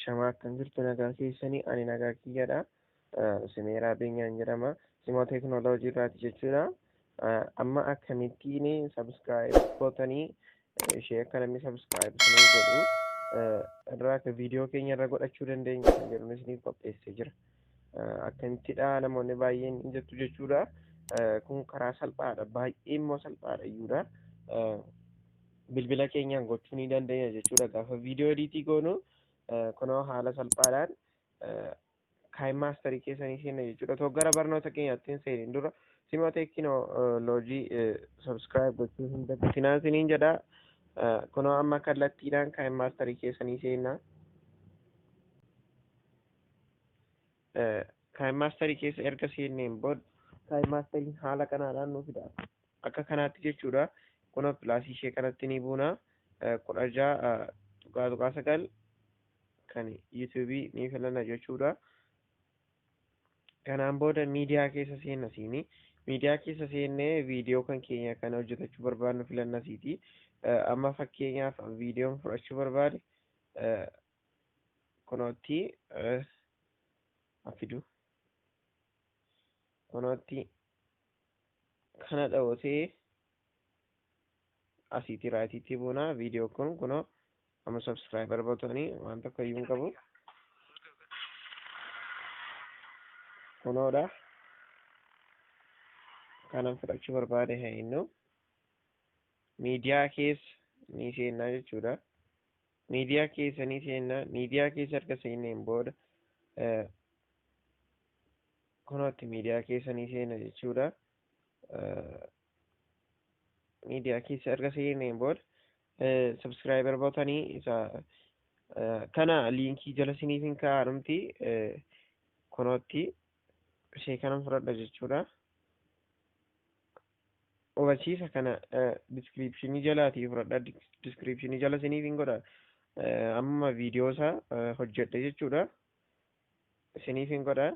Shamaa akkam jirtu nagaa keessanii ani nagaa kiyyadha. Simeeraa Beenyaan jedhama. Simoo teekinooloojii irraati jechuudha. Amma akkamittiin sabskiraayib gootanii ishee akka namni sabskiraayib isiniif godhu irraa akka viidiyoo keenya irra godhachuu dandeenya kan jedhu isiniif qopheessee jira. Akkamittidha namoonni baay'een hin jettu jechuudha. Kun karaa salphaadha. Baay'ee immoo salphaadha iyyuudha. bilbila keenyaan gochuu ni dandeenya jechuudha gaafa viidiyoo ediitii goonu kunoo haala salphaadhaan kaayim maastarii keessanii seenna jechuudha too gara barnoota keenyaatti hin seenin dura simoo teekinoo loojii sabskiraayib gochuu hin dagatinaa isiniin jedha kunoo amma kallattiidhaan kaayim maastarii keessanii seenna kaayim maastarii keessa erga seenneen booda kaayim maastariin haala kanaadhaan nu fida Akka kanaatti jechuudha. Kuna pilaasii ishee kanatti ni buuna. kudha ja'a tuqaa tuqaa sagal kan yuutuubii ni filanna jechuudha. Kanaan booda miidiyaa keessa seenna siini. Miidiyaa keessa seennee viidiyoo kan keenya kan hojjetachuu barbaadnu filanna siiti. Amma fakkeenyaaf viidiyoon fudhachuu barbaade kunootti afidu. Kunootti kana dhawotee asiitii raayitiitti buuna viidiyoo kun kunoo amma sabskraayibar botanii waan tokko iyyuu hin qabu kunoodha kanan fudhachuu barbaade haa innu miidiyaa keessa ni seennaa jechuudha Miidiyaa keessa ni seenna. Miidiyaa keessa erga seenneen booda kunootti miidiyaa keessa ni seenna jechuudha. Miidiyaa keessa erga seenneen booda subscriber botanii isa kana liinkii jala siniif hin kaa'amti kunootti ishee kanan fudhadha jechuudha. Hubachiisa kana description jalaatii fudhadha. Description jala isiniif hin godha. Amma viidiyoo isaa hojjedhe jechuudha. Isiniif hin godha.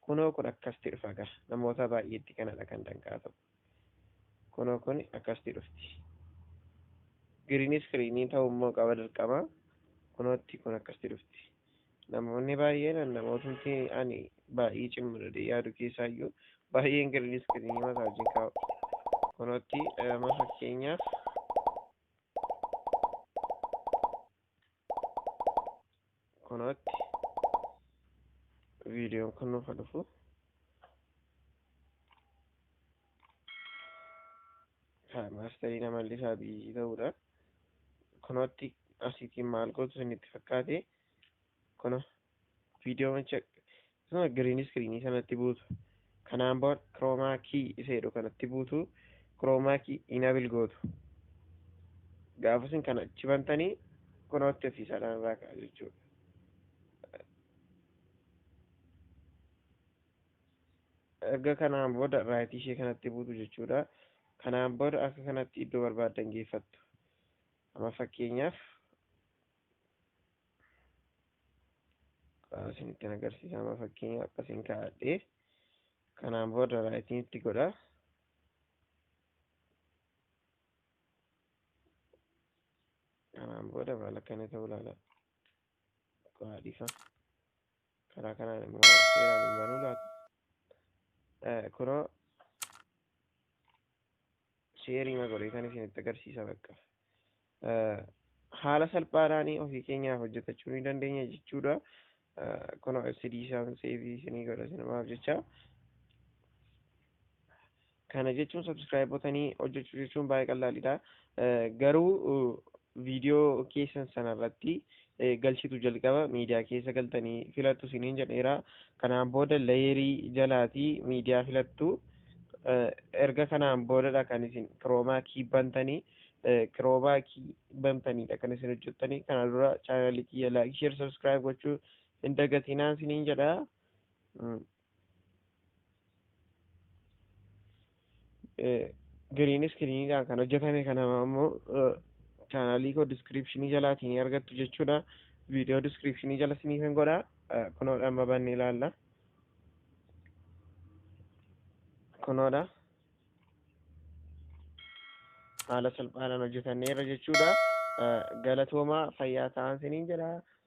Kunoo kun akkasitti dhufa gaa. Namoota baay'eetti kanadha kan danqaa ta'u. Kunoo kun akkasitti dhufti. Giriin iskiriinii ta'uu immoo qaba dirqama. Kunootti kun akkasitti dhufti. Namoonni baay'een namootni ani baay'ee cimma jedhee yaadu keessaa iyyuu baay'een giriin iskiriinii masaajiin kaa'u. Kunootti amma fakkeenyaaf kunootti viidiyoon kun nuuf haa dhufu. maastarii nama illisaa biyyii ta'uudha. Kunootti asiitiin maal gootu isin itti fakkaate kuno viidiyoo macha akkasuma giriin iskiriinii sanatti buutu kanaan booda kiroomaa kii isa jedhu kanatti buutu kiroomaa kii inabil gootu gaafa isin kana achi bantanii kunootti ofiisaadhaan irraa ka'a jechuudha. erga kanaan booda raayitii ishee kanatti buutu jechuudha. Kanaan booda akka kanatti iddoo barbaaddan geeffattu. Amma fakkeenyaaf isinitti agarsiisa amma fakkeenyaaf akkasiin kaa'adhee kanaan booda raayitiin itti godha. Kanaan booda maal akka inni ta'u ilaala. Qo'aa dhiisaa. karaa kanaan immoo seeraan hin banuu laata kunoo sheerii magolee kan isinitti agarsiisa bakka haala salphaadhaan ofii keenyaaf hojjetachuu ni dandeenya jechuudha kunoo fcd isaan seefii isinii godha sinumaaf jecha Kana jechuun subscribe botanii hojjechuu jechuun baay'ee qallaalidha. Garuu viidiyoo keessan sanarratti galchitu jalqaba miidiyaa keessa galtanii filattu isiniin jedheera. Kanaan booda layeerii jalaatii miidiyaa filattu. Erga kanaan boodadha kan isin kiroomaa kii bantanii kiroomaa kii bantaniidha kan isin hojjettanii. Kana dura chaanaalii kiyya laayik sheer subscribe gochuu hin dagatinaa isiniin jedha. Giriin iskiriiniidhaan kan hojjetame kana ammoo chaanaalii koo diskiriipshinii jalaatii ni argattu jechuudha. Viidiyoo diskiriipshinii jala isiniif hin godha. Kunoodha amma bannee ilaalla. Kunoodha. Haala salphaadhaan hojjetanneerra jechuudha. Galatoomaa fayyaa ta'aa isiniin jedha.